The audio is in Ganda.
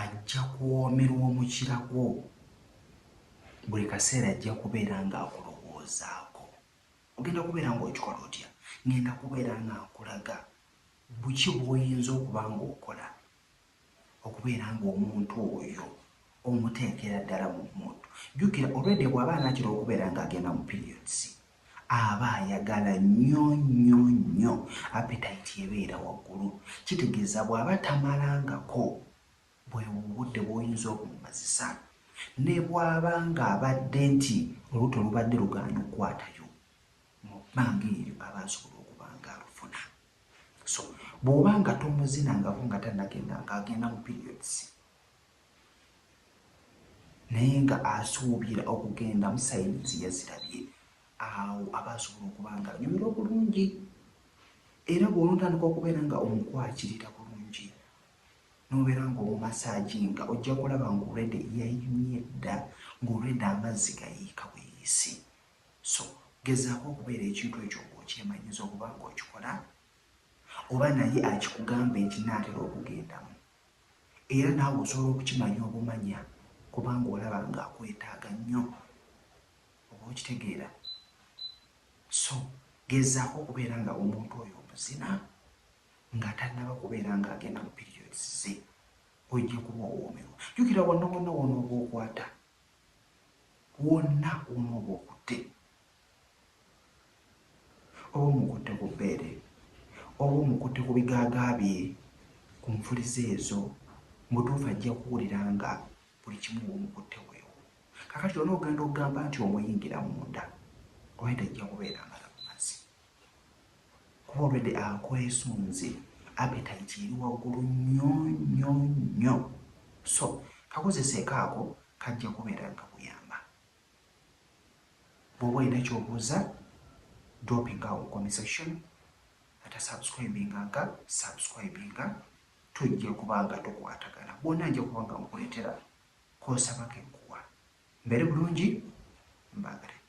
Ajja kuwoomerwa omukira gwo. Buli kaseera ajja kubeera ng'akulowoozaako. Ogenda kubeera ng'okikola otya? Ng'enda kubeera nga nkulaga buki bw'oyinza okuba ng'okola okubeera ng'omuntu oyo omuteekera ddala mu mmundu. Jjukira, olwedda bw'aba anaatera okubeera ng'agenda mu periods, Aba ayagala nnyo nnyo nnyo, appetite ebeera waggulu, kitegeeza bw'aba tamalangako bwe budde bw'oyinza obumumazisa ne bw'aba ng'abadde nti olubuto lubadde lugaanyi okukwatayo, mu bbanga eryo aba asobola okuba ng'alufuna. So bw'oba nga tomuzinangako nga tannagenda ng'agenda mu periods, naye nga asuubira okugenda mu sayini ze yazirabye awo aba asobola okuba nga anyumira obulungi era bw'onontandika okubeera nga omukwakirira bulungi n'obeera ng'omumasaagi nga ojja kulaba ng'olwedde yayimye dda ng'olwedde amazzi gayiika buyisi so gezaako okubeera ekintu ekyo ng'okyemanyiza okuba ng'okikola oba naye akikugamba ekinaatera okugendamu Era naawe osobola okukimanya obumanya kubanga olaba ng'akwetaaga nnyo. Oba okitegeera? So, gezaako okubeera nga omuntu oyo omuzina nga tannaba kubeera ng'agenda mu periods ze. Ojja kuba owoomerwa. Jjukira, wonna wonna w'onooba okwata, wonna w'onooba okutte, Oba omukutte ku bbeere, oba omukutte ku bigaaga bye, ku nfuliza ezo, mu butuufu ajja kuwulira nga buli kimu bw'omukutte weewo. Kaakati lwonna ogenda okugamba nti omuyingira munda, olwali tajja kubeera nga takumaze. Kuba olwedde akwesunze, appetite eri waggulu nnyo nnyo nnyo. So, kakozeseeko ako, kajja kubeera nga kakuyamba. bwoba olina kyobuuza dropping awo comment section atasubscribinga nga subscribinga tujja kuba nga tukwatagana bwona nja kuba nga nkuleetera konsaba kenkuwa mbere bulungi mbaagale